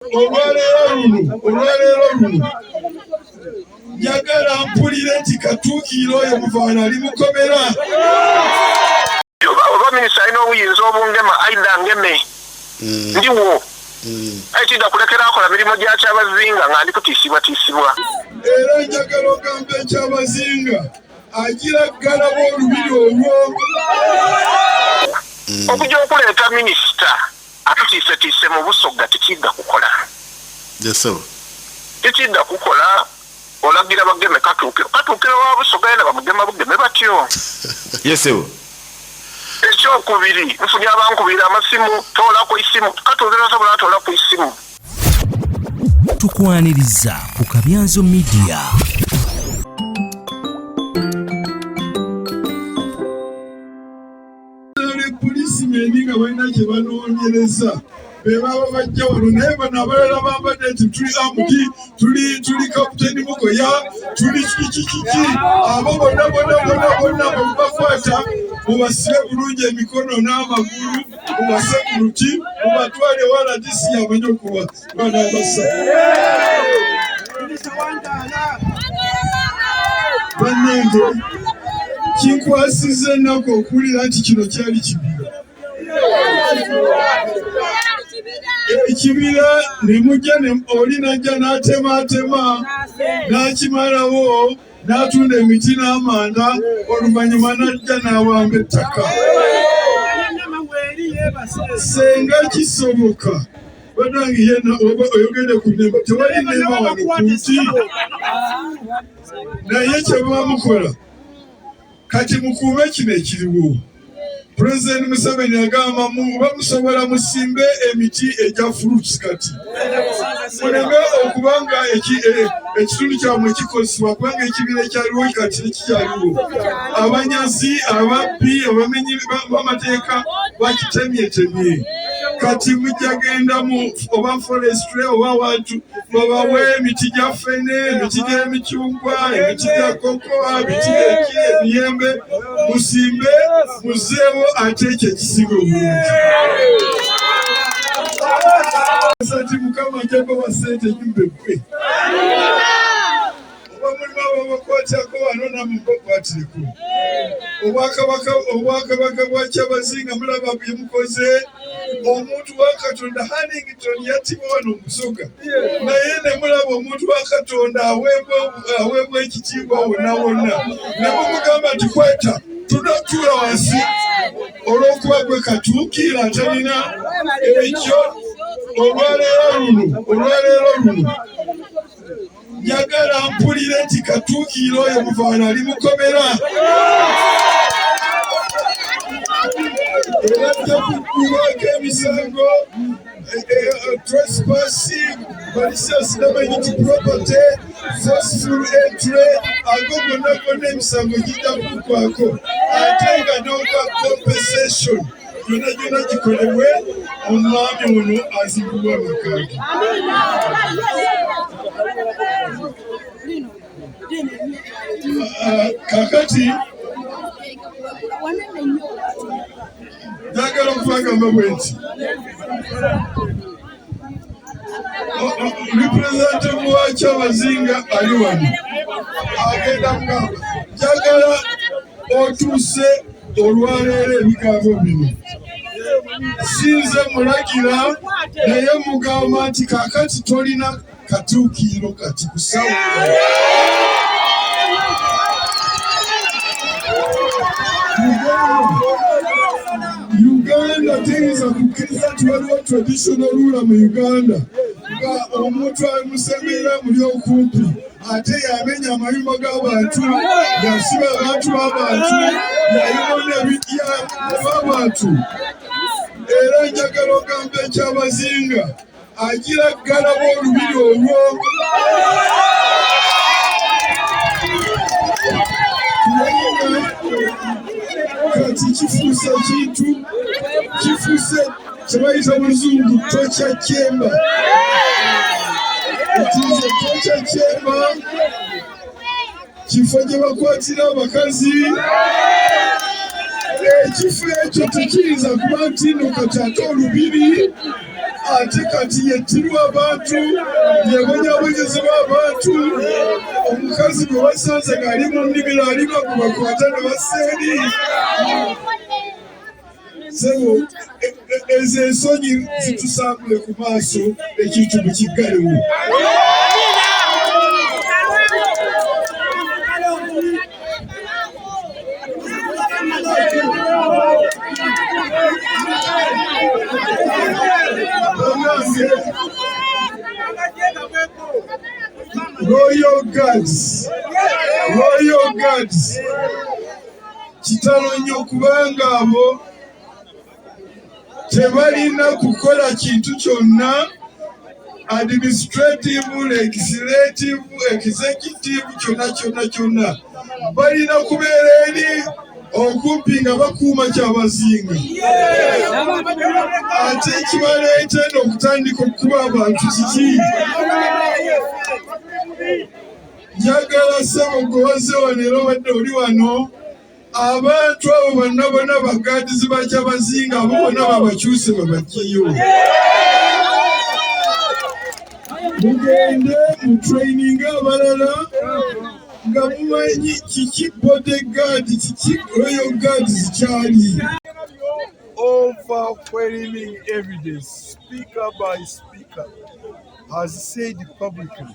olwaleero luno olwaleero luno njagala mpulire nti katuukiira oyo muvaana ali mukomera oba minisita alina obuyinza obungema aida ngeme mm. ndiwo mm. ekida kulekera akola mirimu gya kyabazinga nga ndi kutiisibwatiisibwa era njagala ogamba ekyabazinga agira ggalawo olubiri olwo mm. okuja okuleeta minisita atutiisetiise mu busogga tekidda kukola tekidda kukola olagira bageme katuukiro katuukiro wa busoga yena bamugema bugeme batyo yesebo ekyokubiri nfunye abankubira amasimu toola ku isimu katuukiro osobola atoola ku isimu tukwaniriza ku kabyanzo midiya polisimenti nga balina kye banoonyereza bebaba bajja wano naye bano abalala bambadde nti tuli amuti tuli tuli kaputeni mukoya tuli kikikiki abo bonna bonna bonna bonna bwemubakwata mubasibe bulungi emikono n'amagulu mubase ku luti mubatwale wala disi yamanya okuba bannange kinkwasiza ennaku okuwulira nti kino kyali kibira ekibira ne mujja oli najja n'atemaatema n'akimalawo n'atunda emiti n'amanda oluvannyuma n'ajja n'awamba ettaka senga kisoboka banange yena oba oyogede ku nemba tewali nemba wano kunsi naye kyebamukola kati mukuume kino ekiriwo pulezidenti museveni agamba muba musobola musimbe emiti egya fruits kati muleme okuba nga e, ekitundu kyamwe kikozesebwa kubanga ekibiina ekyaliwo kati tekikyaliwo abanyazi ababbi abamenyi bamateeka bakitemyetemye kati mujja genda mu oba forestry oba wantu babawe emiti gya fene emiti gy'emicungwa emiti gya kokoa emiti gyeki emiyembe musimbe muzeewo ate ekyo ekisinga obulungi sati mukama njagaba sente nyumba eggwe oba mulimu ababakwatako wano namwe bakwatireko obwakabaka obwakabaka bwa kyabazinga mulaba byemukoze omuntu wa katonda hannington yatibwa wano omusoga naye nemulaba omuntu wa katonda aweebwa ekitiibwa wonna wonna nemumugamba nti kweta tunatuula wansi olw'okuba gwe katuukiira atalina ekyo olwaleero luno olwaleero luno njagala mpulire nti katuukiira oyo muvaana ali mukomera era ajja kuggulwako emisango eh, eh, eh, trespassing malicious damage to property forceful entry ago gonna gonna emisango gijja kuggwako ate nga n'ogwa compensation gyonna gyonna gikolebwe omwami ono azibulwa makage ah, kakati njagala okubagamba bwe nti representative wa kyabazinga ali wano agenda kugamba njagala otuuse olwaleero ebigambo bino sinze mulagira naye mugamba nti kakati tolina katuukiiro kati kusawo uganda teyinza kukkiriza nti waliwo traditional rula mu uganda nga omuntu alimusembeera muli okumpi ate yamenya amayumba g'abantu yasiba abantu b'abantu yayibona ebijja b'abantu era njagala ogamba ekyabazinga agira ggalawo olubiri olwo kati kifuuse kintu kifuuse kyebayita muluzungu tokya kyemba ekize tokya kyemba kifo gye bakwatira abakazi ekifo ekyo tekiyinza kuba nti no kati ate olubiri ate kati yettirwa abantu yebonyabonyezebwa abantu omukazi gwe basanze ng'ali mu nnimiro alima gwe bakwata ne baseeri sebo e- e- ezo ensonyi zitusambule ku maaso ekintu mukiggalewo Royal Guards, Royal Guards, Kitalo nnyo kubanga abo tebalina kukola kintu kyonna administrative legislative executive kyonna kyonna kyonna balina kubeera eri okumpi nga bakuuma kyabazinga ate ekibaleeta eno okutandika okukuba abantu kiki Njagala ssebo gwe wazze wano era obadde oli wano, abantu abo banna bona bagaadizi ba Kyabazinga abo bona babakyuse babajjeyo mugende mu training abalala nga mumanyi kiki body guard kiki royal guard zikyali overwhelming evidence speaker by speaker has said publicly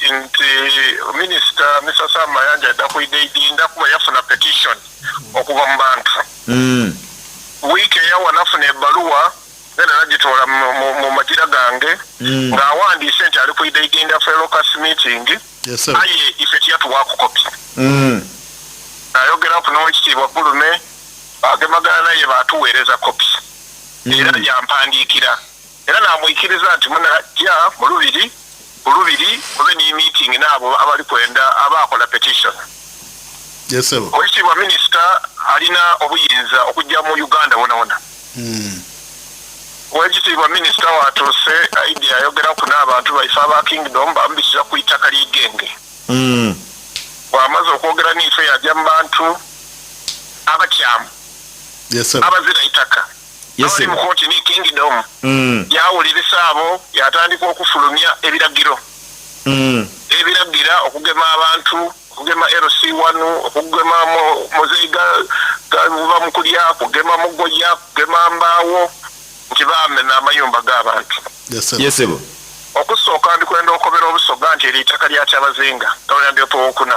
nti minisita Mr Sam Mayanja adda ku Idinda kuba yafuna petition okuva mu bantu mm. wiiki eyawa nafuna ebaluwa era nagitoola mu magira gange mm. ng'awandiise nti ali ku Idinda felocus meeting aye ife tiyatuwakukopi mm. ayogera ku n'owekitiibwa gulume agemagana naye batuweereza kopi era yampandiikira era namwikiriza nti munajja mulubiri bulubiri mube ne meeting naabo abali kwenda aba akola petition oyisibwa minisita alina obuyinza okujja mu uganda wonawona hmm. wekitiibwa minisita watuuse aidi ayogera ku n'abantu baife aba kingdom bamubisiza ku itaka lyegenge hmm. bwamaze okwogera niife yajja mu bantu abakyamu abazira itaka Abali mu kooti ni Kingdom mm. yawulirisa abo yatandika okufulumya ebiragiro mm. ebiragira okugema abantu okugema LC wanu okugema muzeyi galuva mu kulya kugema mugoya kugema mbaawo nti bamena amayumba g'abantu yesebo okusooka ndikwenda okobera obusoga nti eri itaka lya kyabazinga gavana ndyopowokuna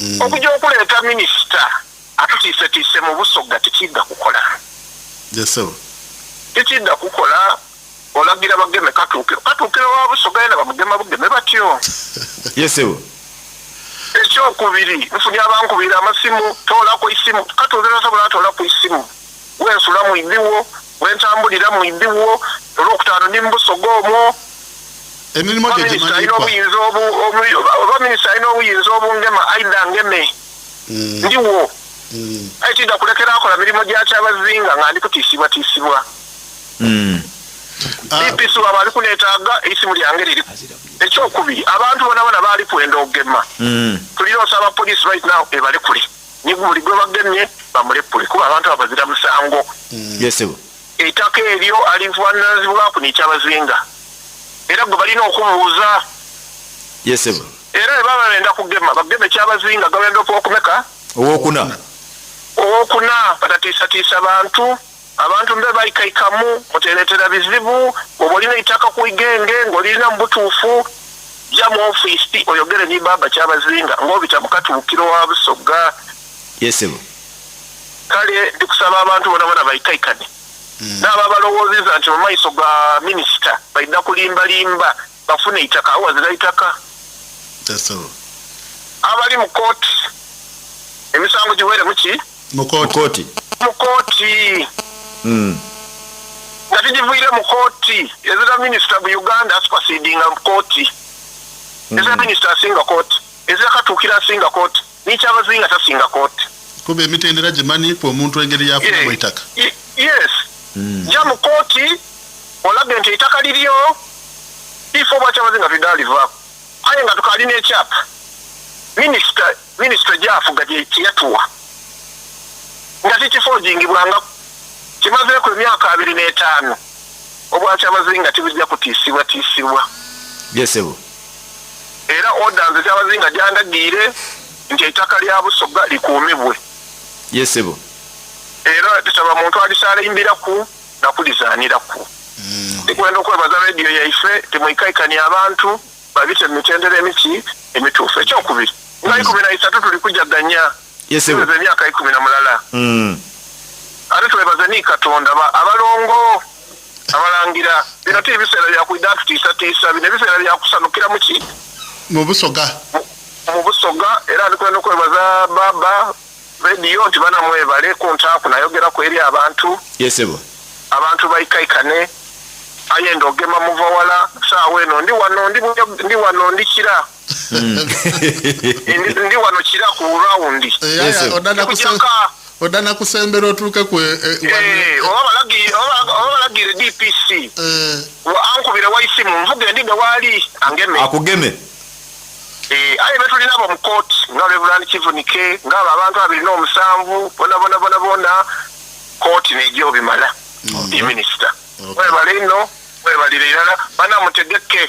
mm. okuja okuleeta minisita atutiisetiise mu busogga tekidda kukola tekidda kukola olagira bageme katuukiro katuukiro wa busogga yena bamugema bugeme batyo yesebo ekyokubiri nfunye abankubira amasimu toolako isimu katuukiro sobola atoolaku isimu wensula mu ibiwo wentambulira mu ibiwo olwokutaano ndi mubusoga omwo emirimu gye gimanyibwa oba minisita alina obuyinza obungema aida ngeme mm. ndiwo mm. aye tidda kulekera akola mirimu gya kyabazinga nga ndi kutiisibwatiisibwa mm. bpc ah. waba ali kunetaaga isimu lyange liri ekyokubiri abantu bona bona baali kwenda ogema tulina osaba poliisi right now ebalekule ne buli gwe bagemye bamulepule kuba abantu abo bazira musango yesebo etaka eryo alivuananzibwaku nekyabazinga era gwe balina okubuuza yesebo era bebaba benda kugema bageme kyabazinga gabenda okubakumeka owokuna owokuna batatiisatiisa bantu Abantu mbe baikaikamu muteretera bizibu bwoba olina eitaka ku igenge nga olirina mubutuufu ja mu office oyogere ni baaba kyabazinga nga obita mu katuukiro wa busogga. Yes sebo. Kale ndikusaba abantu bona bona baikaikane. Naabo abalowoozeza nti mumaiso ga minister baidha kulimba limba. bafune itaka awo wazira itaka abali mu kooti emisango giwere muki mu kooti mu kooti hmm. nga tugivuyire mu kooti ezira minisita bu uganda asupasidinga mu kooti hmm. ezira minisita asinga kooti ezira katuukira asinga kooti nikyabazi nga tasinga kooti kuba emitendera gimanyi ku omuntu engeri yafunamu eitaka yes hmm. ja mu kooti olaga nti eitaka liryo ifo obwakyabazi nga tudalivaku aye nga tukalina ekyapa minisita minisita gyafuga kyeyatuwa nga kikifojingibwanga kimazeeku emyaka abiri n'etaano obwakyabazi nga tibujja kutiisibwa tiisibwa yesebo yes, era order nze Kyabazinga gyandagiire nti ettaka lya Busoga likuumibwe. Yes sebo. Era tusaba muntu alisaalimbiraku nakulizaaniraku. Ndikwenda okwebaza radio yaife temwikaikani abantu babite mu mitendera emiti emituufu. Ekyokubiri nga ikumi na isatu tulikujaganya. yesewe emyaka ikumi na mulala mm. ate twebaze ni katonda ba abalongo abalangira bino ti biseera byakuida tutiisatiisa bino ebiseera byakusanukira muki mu busoga mu busoga era ndikwenda okwebaza baba rediyo nti banamwebale ku ntaaku nayogeraku eri abantu yesebo abantu baikaikane aye ndi ogema muvawala saawa eno ndi wano ndi wano ndikira hmm. ndi wano kira ku rawundi odana kusembera otuuke ku eh, eh, eh, oba balagire dpc ankubira waisimu nvuga endi newaali angeme akugeme Eh, aye betulina abo mu court nga reverand kivunike ngaabo abantu abiri n'omusanvu bonabonabonabona kooti nejo bimala mm. ye minisita webale ino webalire irala banamutegeke